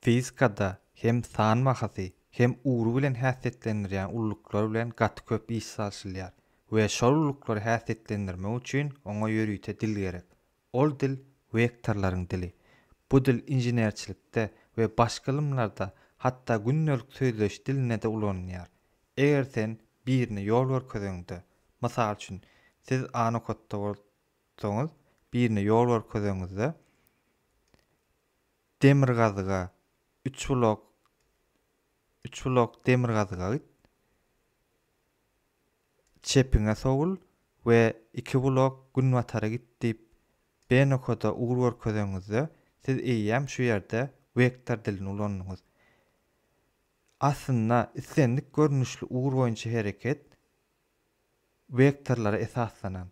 Fizikada hem san bahasy, hem ugry bilen häsiýetlendirýän ulluklar bilen gaty köp iş salşylýar we şol ulluklary häsiýetlendirmek üçin oňa ýörite dil gerek. Ol dil wektorlaryň dili. Bu dil inženerçilikde we başga ylymlarda, hatda gündelik sözleşiş dilinde-de ulanylýar. Eger sen birine ýol görkezeňde, mysal üçin, siz A nokatda bolsaňyz, birine ýol görkezeňizde, Demirgazyga, Üçbulak, Üçbulak demirgazyga git, çepiňe sowul we Ikibulak günbatara git diýip BNOKD-a ugur görkezeňizde, siz eýýäm şu ýerde wektor dilini ulandyňyz. Aslynda islendik görnüşli ugur boýunça hereket wektorlara esaslanan,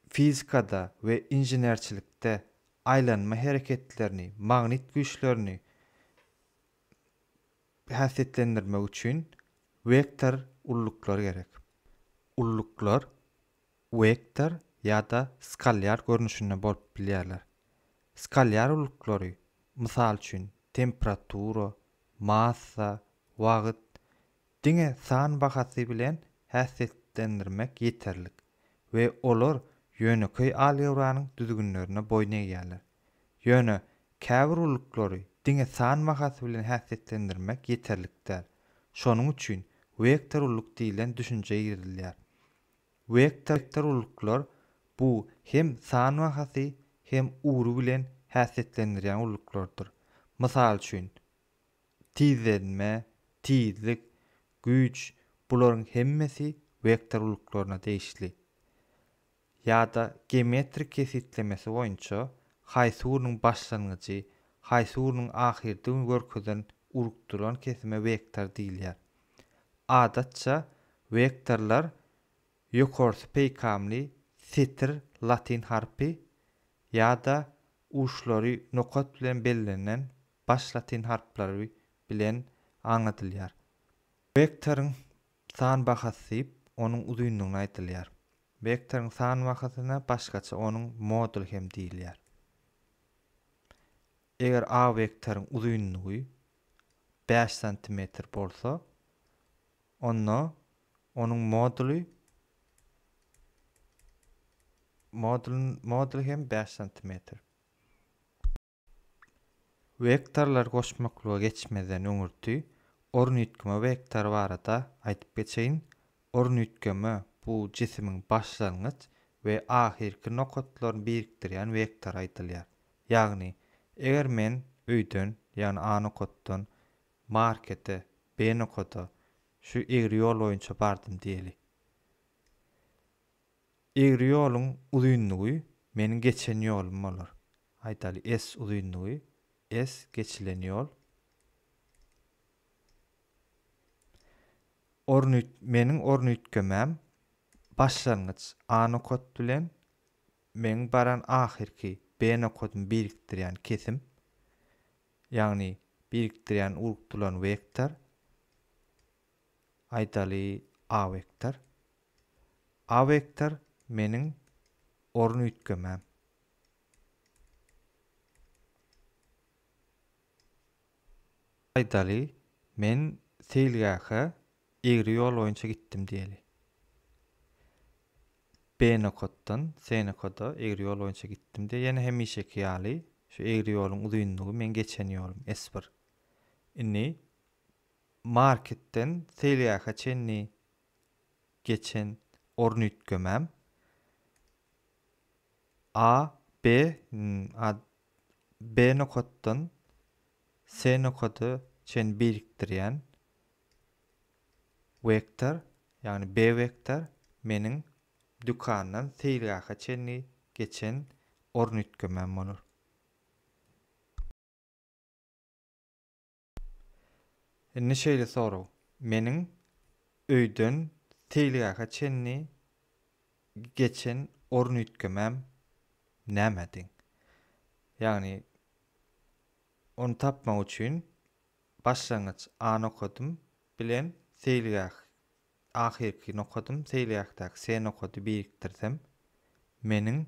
fizikada we inženerçilikde aýlanma hereketlerini, magnit güýçlerini häsiýetlendirmek üçin wektor ulluklar gerek. Ulluklar wektor ýa-da skalýar görnüşinde bolup bilýärler. Skalýar ulluklary, mysal üçin, temperatura, massa, wagt, Diňe san bahasy bilen häsiýetlendirmek ýeterlik we olar ýönekeý algebranyň düzgünlerine boýun egýärler. Ýöne käbir ulyklary diňe san bahasy bilen häsiýetlendirmek ýeterlik däl. Şonuň üçin wektor ulyk diýlen düşünje girizilýär. Wektor ulyklar bu hem san bahasy hem ugry bilen häsiýetlendirýän ulyklardyr. Mysal üçin, tizlenme, tizlik, güýç bularyň hemmesi wektor uluklaryna degişli. Ýa-da geometrik kesgitlemesi boýunça haýsy ugruň başlangyjy, haýsy ugruň ahyrdygyny görkezen uruk duran kesime wektor diýilýär. Adatça wektorlar ýokarsy peýkamly setir latyn harpy ýa-da uçlary nokat bilen bellenen baş latyn harplary bilen aňladylýar. Wektoryň san bahasy diýip, onuň uzynlygyna aýdylýar. Wektoryň san bahasyna başgaça onuň moduly hem diýilýär. Eger A wektoryň uzynlygy bäş santimetr bolsa, onda onuň moduly modulyň moduly hem bäş santimetr. Wektorlary goşmaklyga geçmezden öňürti ornitkme wektory barada aýdyp geçeýin. Ornitkme bu jisimiň başlangyç we ahyrky nokatlaryny birikdirýän wektory aýdylýar. Ýagny, eger men öýden, ýagny A nokatdan, markete, B nokada, şu egri ýol boýunça bardym diýeli. Egri ýoluň uzynlygy meniň geçen ýolum bolar. Aýdaly, S uzynlygy, S geçilen ýol. Ornuýt, meniň ornuýtgemem başlangyç A nokat bilen meniň baran ahyrky B nokadymy birikdirýän kesim, ýagny birikdirýän uruk tulan wektor. Aýdaly A wektor. A wektor meniň orun üýtgemem. Aýdaly men seýilgähe egri ýol boýunça gitdim diýeli. B nokatdan C nokada egri ýol boýunça gitdim diýeli. Ýene hemişeki ýaly şu egri ýoluň uzynlygy meň geçen ýolum S bir. Indi Marketden seýilgähe çenli geçen orun üýtgemem A, B, a, B nokatdan S nokady çen birikdirýän wektor, ýagny B wektor meniň dükandan seýilgähe çenli geçen orun üýtgemem bolar. Indi şeýle sorag, meniň öýden seýilgähe çenli geçen orun üýtgemem näme deň? Ýagny ony tapmak üçin başlangyç A nokadym bilen seýilgäh ahyrky nokadym seýilgähdäki C nokady birikdirsem, meniň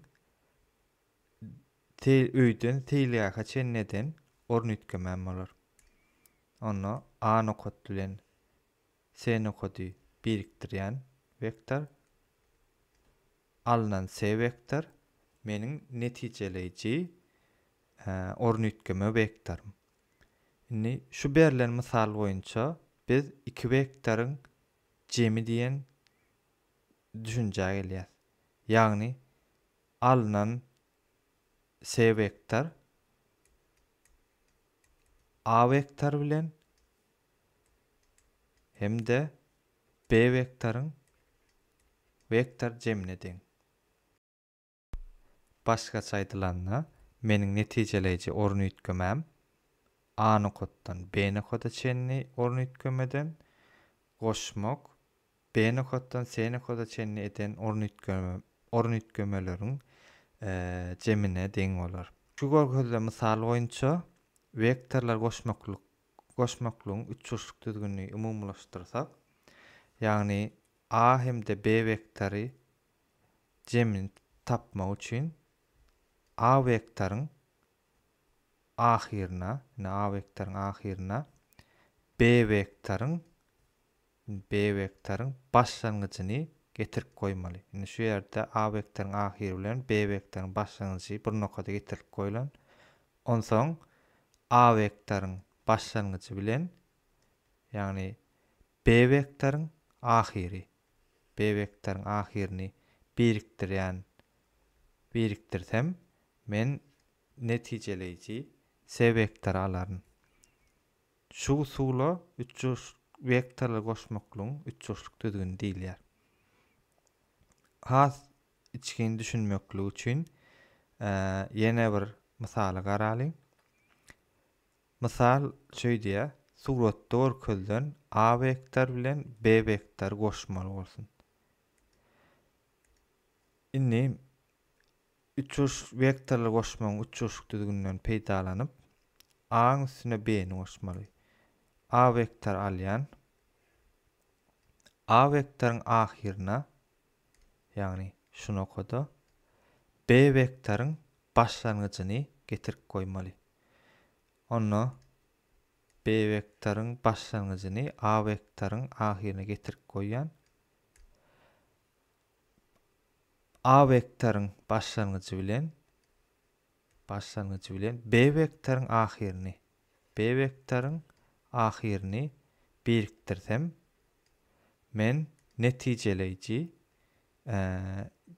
Seý öýden seýilgähe çenli eden orun üýtgemän bolar. Onda A nokat bilen C nokady birikdirýän wektor, alnan C wektor meniň netijeleýji orun üýtgeme wektorym. Indi şu berlen mysal boýunça biz iki wektoryň jemi diýen düşünjä gelýär. Ýagny alnan C wektor A wektor bilen hem-de B wektoryň wektor jemine deň. Başgaça aýdylanda, meniň netijeleýji orun üýtgemem A nokatdan B nokada çenli orun üýtgemeden, goşmak, B nokatdan C nokada çenli eden orun orun üýtgemeleriň jemine deň bolar. Şu görkezilen mysal boýunça wektorlar goşmaklyk goşmaklygyň üçburçluk düzgünini umumylaşdyrsak, ýagny A hem-de B wektory jemini tapmak üçin A wektoryň ahyryna, ine A wektoryň ahyryna B wektoryň, B wektoryň başlangyjyny getirip goýmaly. Indi şu ýerde A wektoryň ahyry bilen B wektoryň başlangyjy bir nokada getirilip goýlan. Onsoň A wektoryň başlangyjy bilen, ýagny B wektoryň ahyry, bebekleriň ahyryny birikdirýän birikdirsem men netijeleýji s-wektory alaryn. Şu usula üçburç wektorly goşmaklygyň üçburçluk düzgüni diýilýär. Has içgin düşünmeklik üçin ýene bir mysaly garalyň. Mysal şöýdýär, suratda görkezilen A wektor bilen B wektory goşmaly bolsun. Indi üçurşyk wektorlary goşmagyň üçurşyk düzgüninden peýdalanyp, A-nyň üstüne B-ni goşmaly. A wektory alýan. A wektoryň ahyryna, ýagny şu nokada B wektoryň başlangyjyny getirip goýmaly. onda B wektoryň başlangyjyny A wektoryň ahyryna getirip goýýan. A wektoryň başlangyjy bilen başlangyjy bilen B wektoryň ahyryny B wektoryň ahyryny birikdirsem men netijeleýji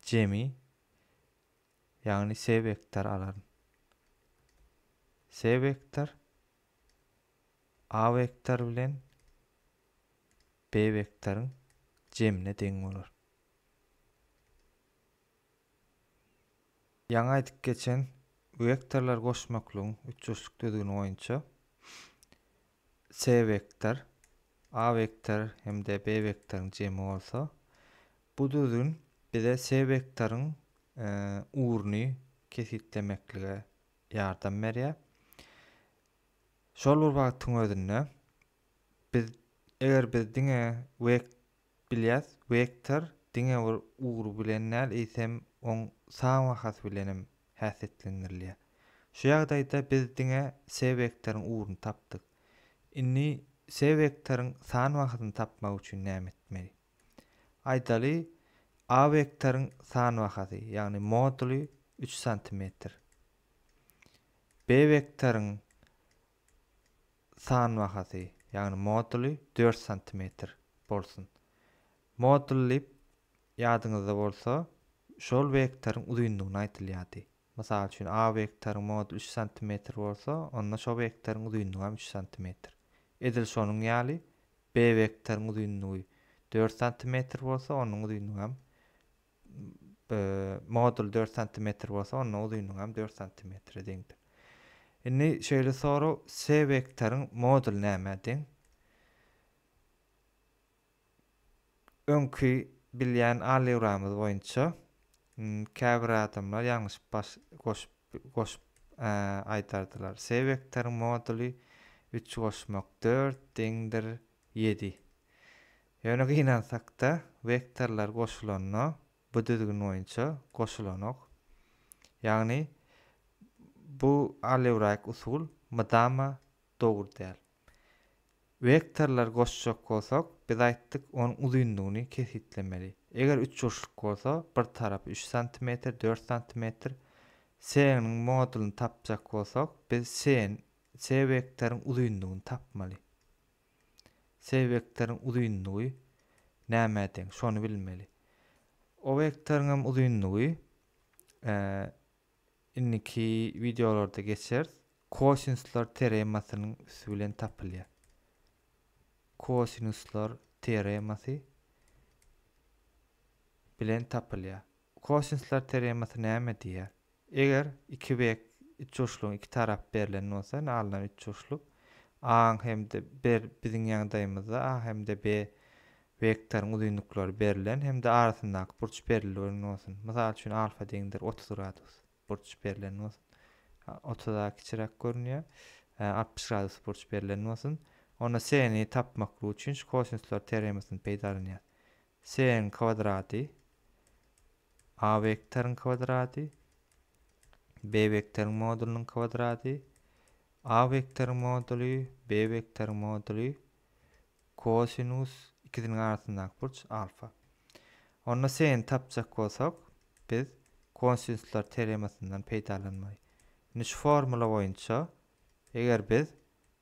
jemi Ýagny se wektor alaryn. Se wektor A wektor bilen B wektoryň jemine deň bolar. Ýaňy aýdyp geçen wektorlar goşmaklygyň üçburçluk düzgüni boýunça C vektor, A vektor hem-de B vektoryň jemi bolsa, bu düzgün bize C vektoryň ugruny kesgitlemeklige ýardam berýär. Şol bir wagtyň özünde biz eger biz diňe Bilýäs, wektor diňe bir ugry bilen däl, eýsem, oň san bahasy bilen hem häsiýetlendirilýär. Şu ýagdaýda biz diňe S wektoryň ugruny tapdyk. Indi S wektoryň san bahasyny tapmak üçin näme etmeli? Aýdaly, A wektoryň san bahasy, ýagny moduly üç santimetr. B wektoryň san bahasy, ýagny moduly dört santimetr bolsun. Modul diýip, ýadyňyzda bolsa, şol wektoryň uzynlygyny aýdylýardy. Mysal üçin, A wektoryň moduly üç santimetr bolsa, onda şo wektoryň uzynlygy hem üç santimetr. Edil şonuň ýaly, B wektoryň uzynlygy dört santimetr bolsa, onuň uzynlygy hem modul dört santimetr bolsa, onda uzynlygy hem dört santimetre deňdir. Indi şeýle sorag, S wektoryň moduly nämä deň? Öňki bilýän algebramyz boýunça käbir adamlar ýalňyş baş goşup goşup aýdardylar. S wektoryň moduly üç goşmak dört deňdir Ýedi. Ýöne gynansakda, wektorlar goşulanda bu düzgün boýunça goşulanok. Ýagny bu alewraik usul mydama dogry däl. Wektorlar goşjak bolsak, biz aýtdyk, onuň uzynlygyny kesgitlemeli. Eger üçburçluk bolsa, bir tarapy üç santimetr, dört santimetr, sn-iň modulyny tapjak bolsak, biz sn C wektoryň uzynlygyny tapmaly. C wektoryň uzynlygy nämä deň, şony bilmeli. O wektoryň hem uzynlygy indiki wideolarda geçeris. Kosinsler teoremasynyň üsti bilen tapylýar. Kosinsler teoremasy bilen tapylýar. Kosinsler teoremasy näme diýýär? Eger iki bek üçburçlugyň iki tarapy berlen bolsa, indi alnan üçburçluk A-nyň hem-de bir biziň ýagdaýymyzda A hem-de B wektoryň uzynlyklary berlen hem-de arasyndaky burç berilgen bolsun. Mysal üçin, alfa deňdir otuz gradus burç berlen bolsun. Otuz A kiçiräk görünýär. Altmyş gradus burç berlen bolsun. Onda C-ni tapmaklyk üçin şu kosinsler teoremasyny peýdalanýarys. S-iň kwadraty, A wektoryň kwadraty, B wektoryň modulynyň kwadraty, A wektoryň moduly, B wektoryň moduly, kosinus ikisiniň arasyndaky burç alfa. Onda S-ni tapjak bolsak, biz kosinuslar teoremasyndan peýdalanmaly. Indi şu formula boýunça, eger biz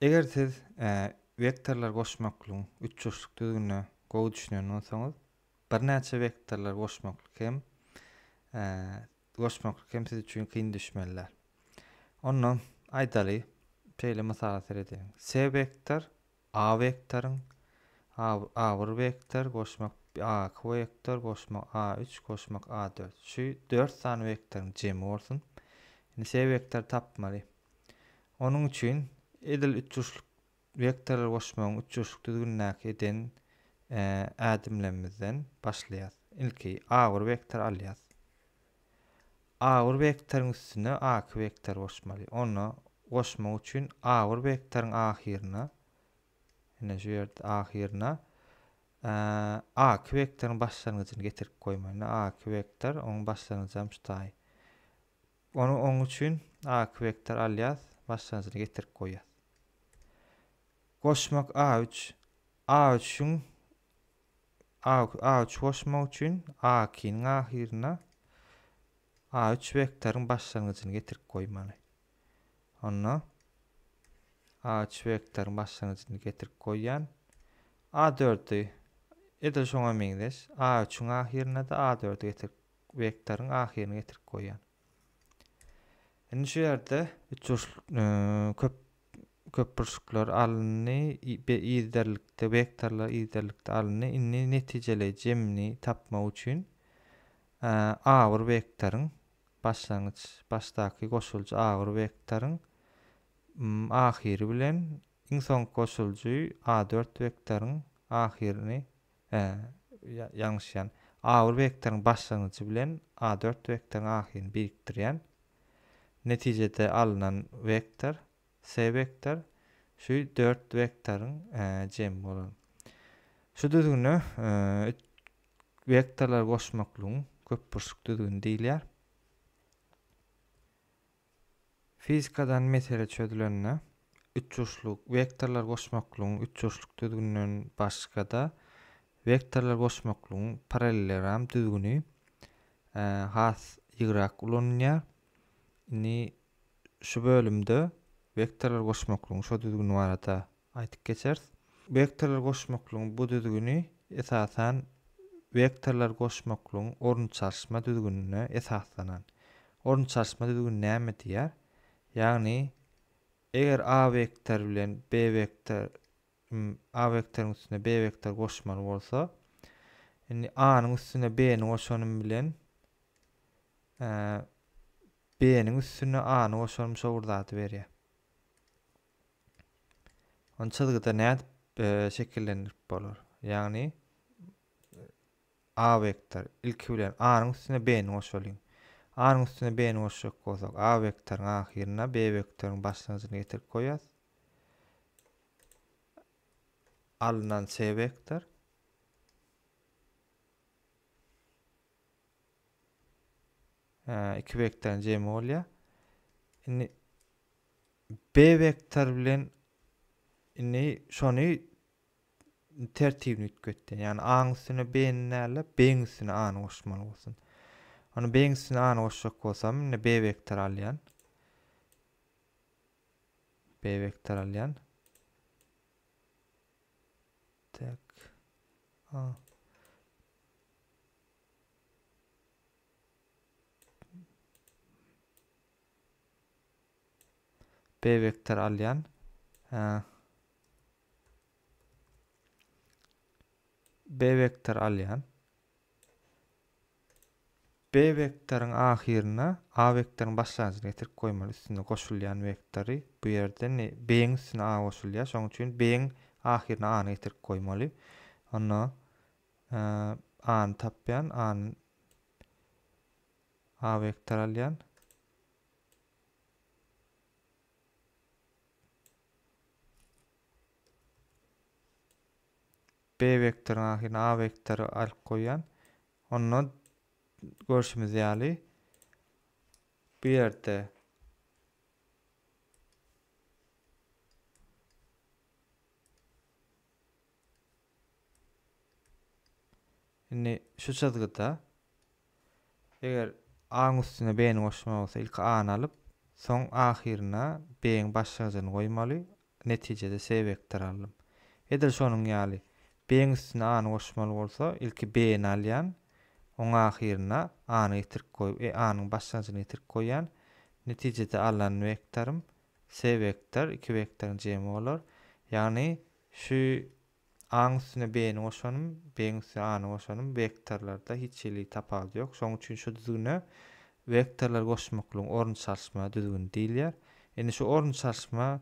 Eger siz wektorlar goşmaklygyň üçburçluk düzgünine gowy düşünen bolsaňyz, birnäçe wektorlar goşmaklyk hem goşmaklyk hem siz üçin kyn düşmeli däl. Onda aýdaly, şeýle mysala seredeliň. S wektor A wektoryň A1 wektor goşmak A2 wektor goşmak A3 goşmak A4. Şu 4 sany wektoryň jemi bolsun. Indi S wektory tapmaly. Onuň üçin edil ütruşlyk wektory goşmagyň ütruşlyk düzgünindäki eden ädimlerimizden başlaýas. Ilki a bir wektor alýas. A bir wektoryň üstüne a iki wektor goşmaly. Onda goşmak üçin a bir wektoryň ahyryna ine şu ýerde ahyryna a iki wektoryň başlangyjyny getirip goýmaly. A iki wektor onuň başlangyjy hem şu taý. Ony oň üçin A-ki vektor alýas, başlanjyny getirip goýýas. Goşmak A-üç. A-üçüň A-üçi goşmak üçin A-kiniň ahyryna A-üç vektoryň başlangyjyny getirip goýmaly. Onda A-üç vektoryň başlangyjyny getirip goýýan. A-dördi edil şoňa meňzeş. A-üçüň ahyryna-da A-dördi getirip wektoryň ahyryny getirip goýýan. Indi şu ýerde üçburç köp köpburçluklar alyndy, yzderlikde wektorlar yzderlikde alyndy. Indi netijeli jemini tapmak üçin agyr wektoryň başlangyç başdaky goşuljy agyr wektoryň ahyry bilen iň soňky goşuljy A4 wektoryň ahyryny Hä, ýalňyşýan. A-bir wektoriň başlangyjy bilen A-dört wektoriň ahyryny birikdirýän. Netijede alnan wektor, S wektor, şu dört wektoryň jemi bolan. Şu düzgüne wektorlary goşmaklygyň köpburçluk düzgüni diýilýär. Fizikadan mesele çözülende, üçburçluk wektorlar goşmaklygyň üçburçluk düzgüninden başga-da, wektorlar goşmaklygyň parallelogram düzgüni has ýygrak ulanylýar. Indi şu bölümde wektorlar goşmaklygyň şo düzgüni barada Aýdyp geçeris. Wektorlar goşmaklygyň bu düzgüni, esasan, wektorlar goşmaklygyň orunçaşma düzgünine esaslanan. Orunçaşma düzgüni näme diýýär? Ýagny, eger A wektory bilen B wektor A wektoryň üstüne B wektory goşmaly bolsa, indi A-nyň üstüne B-ni goşanym bilen B-niň üstüne A-ny goşanym şo bir zady berýär. Ony çyzgyda nädip e, şekillendirip bolar? Ýagny A vektor ilki bilen A-nyň üstüne B-ni goşalyň. A-nyň üstüne B-ni goşjak bolsak, A vektoryň ahyryna B vektoryň başlangyjyny getirip goýýas. Alnan C vektor 2 vektoryň jemi bolýar. Indi B vektor bilen indi şony tertibini üýtgetdi. Ýagny A-nyň üstüne B-ni näle, B-niň üstüne A-ny goşmaly bolsun. Ony B-niň üstüne A-ny goşjak bolsam, indi B vektor alýan. B vektor alýan. Tak. A. B vektor alýan. B vektor alýan. B vektoryň ahyryna A vektoryň başlangyjyny getirip goýmaly üstünde goşulýan vektory bu ýerde ne B-iň üstüne A goşulýar. Şonuň üçin B-iň ahyryna A-ny getirip goýmaly. Onda A-ny tapýan, A-ny A vektor alýan. B vektoryň ahyryna A vektory alyp goýýan. Onda görşümiz ýaly bu ýerde Indi şu çyzgyda eger A-nyň üstüne B-ni goşmaly bolsa, ilki A-ny alyp, soň ahyryna B-iň başlangyjyny goýmaly, netijede C wektory aldym. Edil şonuň ýaly, B-iň üstüne A-ny goşmaly bolsa, ilki B-ni alýan, oň ahyryna A-ny getirip goýup, e, A-nyň başlangyjyny getirip goýýan, netijede alan wektorym C wektor, iki wektoryň jemi bolar. Ýagny Şu A-nyň üstüne B-ni goşanym, B-iň üstüne A-ny goşanym wektorlarda hiç hili tapawudy ýok. Şonuň üçin şu düzgüne wektorlary goşmaklygyň orun çalyşma düzgüni diýilýär. Indi şu orun çalyşma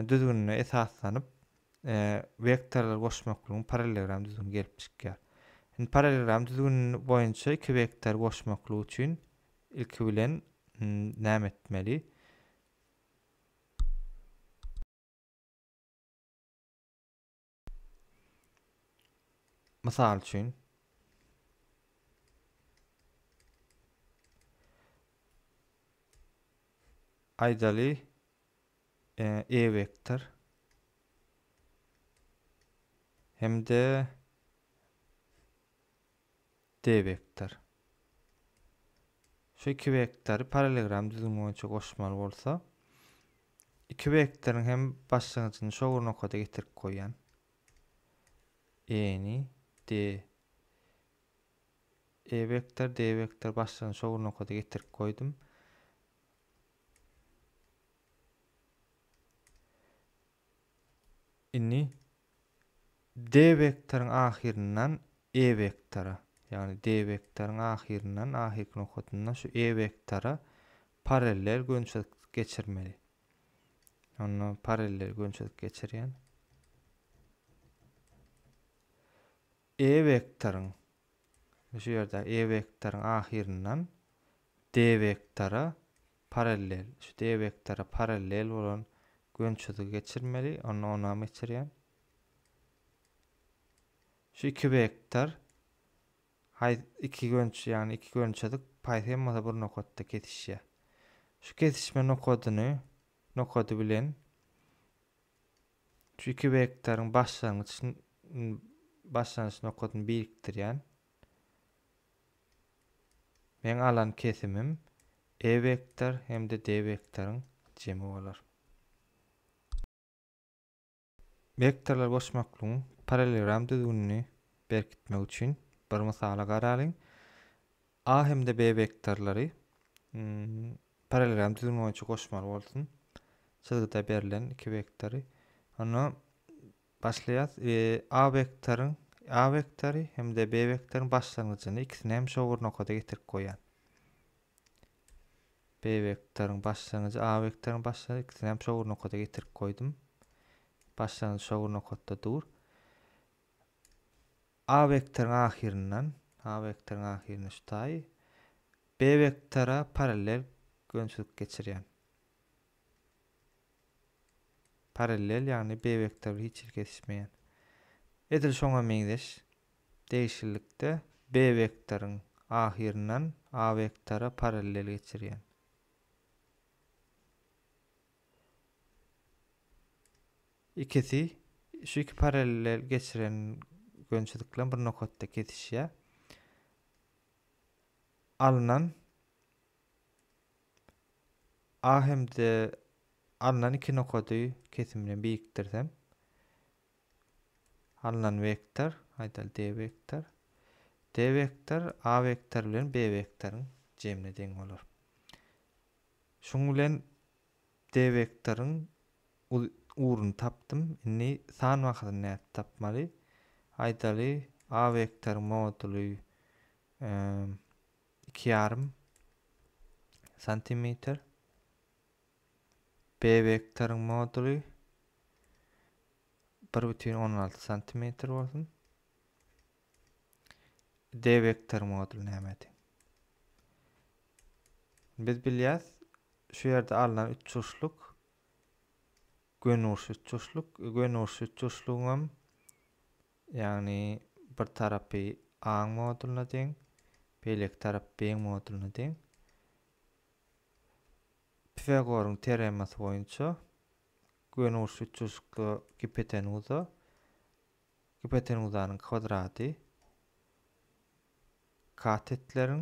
düzgünine esaslanyp, wektorlary goşmaklygyň parallelogram düzgüni gelip çykýar. Indi parallelogram düzgüni boýunça iki wektory goşmaklyk üçin ilki bilen näme etmeli? Mysal üçin, aýdaly, e, e vektor hem-de D wektor. Şu iki wektory parallelogram düzümi boýunça goşmaly bolsa, iki wektoryň hem başlangyjyny şo bir nokada getirip goýýan. E-ni D E vektor, D vektor başlangyjyny şo bir nokada getirip goýdum. Indi D wektoryň ahyryndan E wektora, ýagny D wektoryň ahyryndan ahyrky nokatyndan şu E wektora parallel gönçelik geçirmeli. Onda parallel gönçelik geçirýän. E wektoryň şu ýerde E wektoryň ahyryndan D wektora Parallel, şu D wektora parallel bolan gönçüzgi geçirmeli, onda onam geçirýän. Şu iki wektor haý iki gönç, ýagny iki gönçüzk paýsy hem bolsa bir nokatda kesişýär. Şu kesişme nokadyny nokady bilen şu iki wektoryň başlangyç başlangyç nokadyny birikdirýän. Meň alan kesimim E vektor hem-de D vektoryň jemi bolar. Wektorlar goşmaklygyň parallelogram düzgünini berkitmek üçin bir mysaly garalyň. A hem-de B wektorlary parallelogram düzgüni boýunça goşmaly bolsun. Çyzgyda berlen iki wektory. Onda Başlaýas. A wektoryň A wektory hem-de B wektoryň başlangyjyny ikisini hem şo bir nokada getirip goýýan. B wektoryň başlangyjy A wektoryň başlangyjy ikisini hem şo bir nokada getirip goýdum. Başlangyjy şo bir nokatda dur. A wektoryň ahyryndan A wektoryň ahyryndan şu taýy B wektora parallel gönçülik geçirýän. Parallel, ýagny B-wektory hiç hili kesişmeýän. Edil şoňa meňzeş degişlilikde B-wektoryň ahyryndan A-wektora parallel geçirýän. Ikisi, şu iki parallel geçiren gönçedik bilen bir nokatda kesişýär. Alnan a hem-de alnan iki nokady kesim bilen birikdirsem alnan wektor aýdaly d wektor d wektor a wektor bilen b wektoryň jemine deň bolar şuň bilen d wektoryň ugruny tapdym indi san wahadyny nädip tapmaly aýdaly a wektoryň moduly iki ýarym santimetr B vektoryň moduly bir bütin on alty santimetr bolsun. D vektor moduly näme deň? Biz bilýäs, şu ýerde alnan üçburçluk gönurşy üçburçluk, gönurşy üçburçlugyň hem Ýagny bir tarapy A-nyň moduluna deň, beýleki tarap B-nyň moduluna deň. Pifagoryň teoremasy boýunça gönüburçly üçburçlukda gipotenuza, gipotenuzanyň kwadrady katetleriň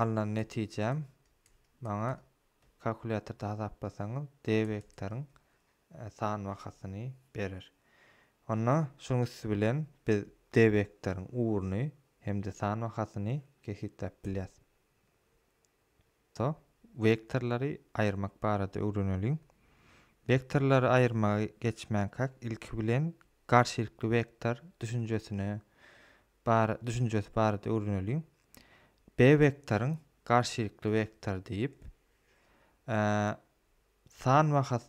Alnan netijäm maňa kalkulýatorda hasaplasaňyz D wektoryň san bahasyny berer. Onda şunuň üsti bilen biz D wektoryň ugruny hem-de san bahasyny kesgitläp bilýäs. To, wektorlary aýyrmak barada öwreneliň. Wektorlary aýyrmaga geçmänkäk ilki bilen garşylykly wektor düşünjesine bar düşünjesi barada öwreneliň. B wektoryň garşylykly wektor diýip, san we has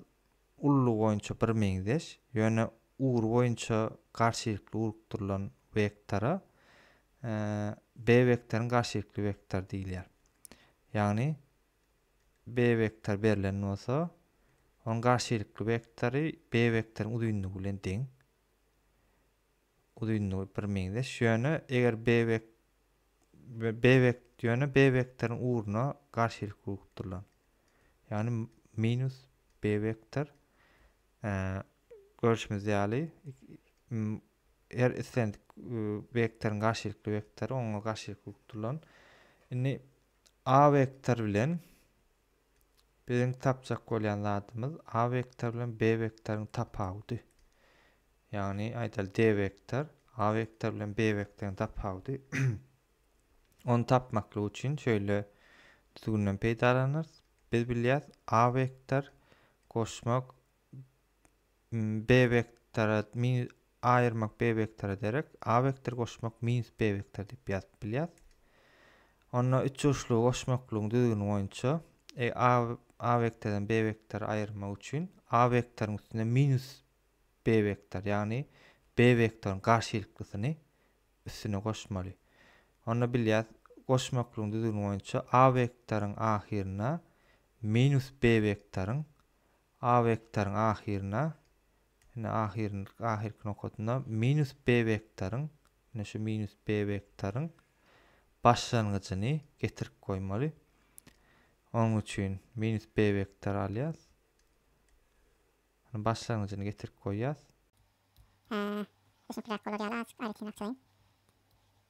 ululygy boýunça birmeňzeş, ýöne ugur boýunça garşylykly urukdyrylan wektora B wektoryň garşylykly wektor diýilýär. Ýagny B wektor berlen bolsa, onuň garşylykly wektory B wektoryň uzynlygy bilen deň. uzynlygy birmeňzeş, ýöne eger B we we B wek ýöne B wektoryň ugruna garşylyk urgup durulan. Ýagny minus B wektor e, görüşimiz ýaly her islendik e, wektoryň garşylykly wektory oňa garşylyk urgup durulan. Indi A wektor bilen Biziň tapjak bolýan zadymyz A wektor bilen B wektoryň tapawudy. Ýagny aýdaly D wektor A wektor bilen B wektoryň tapawudy. Ony tapmaklyk üçin şöyle düzgünden peýdalanarys. Biz bilýäs A wektor goşmak B wektora min aýyrmak B wektora derek A wektor goşmak minus B wektor diýip ýazyp bilýär. Onda üç uçly goşmaklygyň düzgüni boýunça e, A A wektordan B wektor aýyrmak üçin A wektoryň üstüne minus B wektor, ýagny B wektoryň garşylyklysyny üstüne goşmaly. Onda bilýär goşmaklygyň düzgüni boýunça A wektoryň ahyryna minus B wektoryň A wektoryň ahyryna, ine, ahyryny, ahyrky nokadyna minus B wektoryň, ine, şu minus B wektoryň başlangyjyny getirip goýmaly. Onuň üçin minus B wektory alýas. Başlangyjyny getirip goýýas. Ee, düşünkiräk bolar ýaly azajyk aýratyn açaýyn.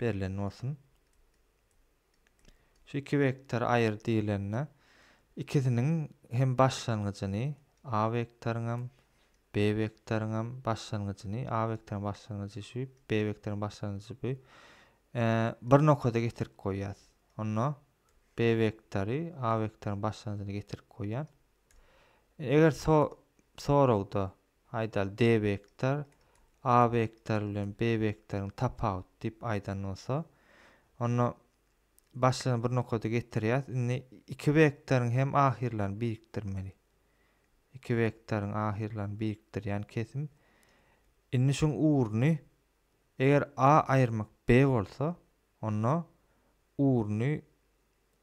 berlen bolsun. Şu iki wektor aýyr diýlende ikisiniň hem başlangyjyny A wektoryň hem B wektoryň hem başlangyjyny A wektoryň başlangyjy şu B wektoryň başlangyjy bu bir nokada getirip goýýas. Onda B wektory A wektoryň başlangyjyny getirip goýýan. Eger so soragda Aýdaly D wektor A wektory bilen B wektoryň tapawuty diýip aýdan bolsa, onda başlygyny bir nokada getirýäs. Indi iki wektoryň hem ahyrlaryny birikdirmeli. Iki wektoryň ahyrlaryny birikdirýän kesim. Indi şuň urny eger A aýyrmak B bolsa, onda urny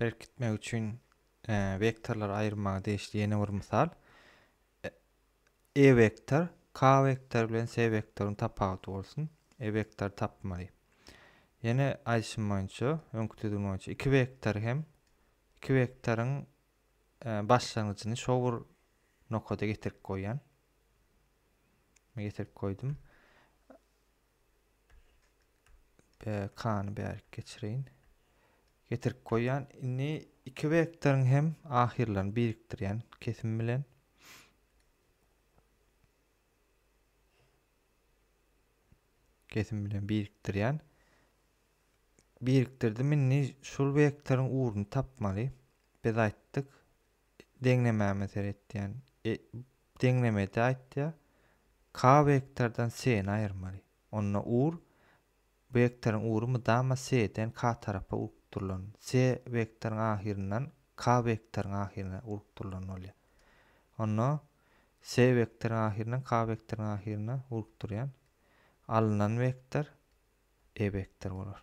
berkitmek üçin wektorlary aýyrmaga degişli ýene bir mysal. E vektor K vektor bilen S vektoryň tapawuty bolsun. E vektor tapmaly. Ýene aýdyşym boýunça, öňki düzgün boýunça iki vektor hem iki vektoryň e, başlangyjyny şo bir nokada getirip goýýan. Getirip goýdum. BK-ny bärik geçireýin. Getirip goýýan. Indi iki vektoryň hem ahyrlaryny birikdirýän kesim bilen. Kesim bilen birikdirýän. Birikdirdim indi şul vektoryň ugruny tapmaly. Biz aýtdyk deňlemäme seretýän. E, Deňlemede aýtýar, K wektordan C-ni aýyrmaly. Onda ur, wektoryň ury mydama C-den K tarapa urukdyrylan, C wektoryň ahyryndan K wektoryň ahyryna urukdyrylan bolýar. Onda C wektoryň ahyryndan K wektoryň ahyryna urukdyrýan alnan wektor E wektor bolar.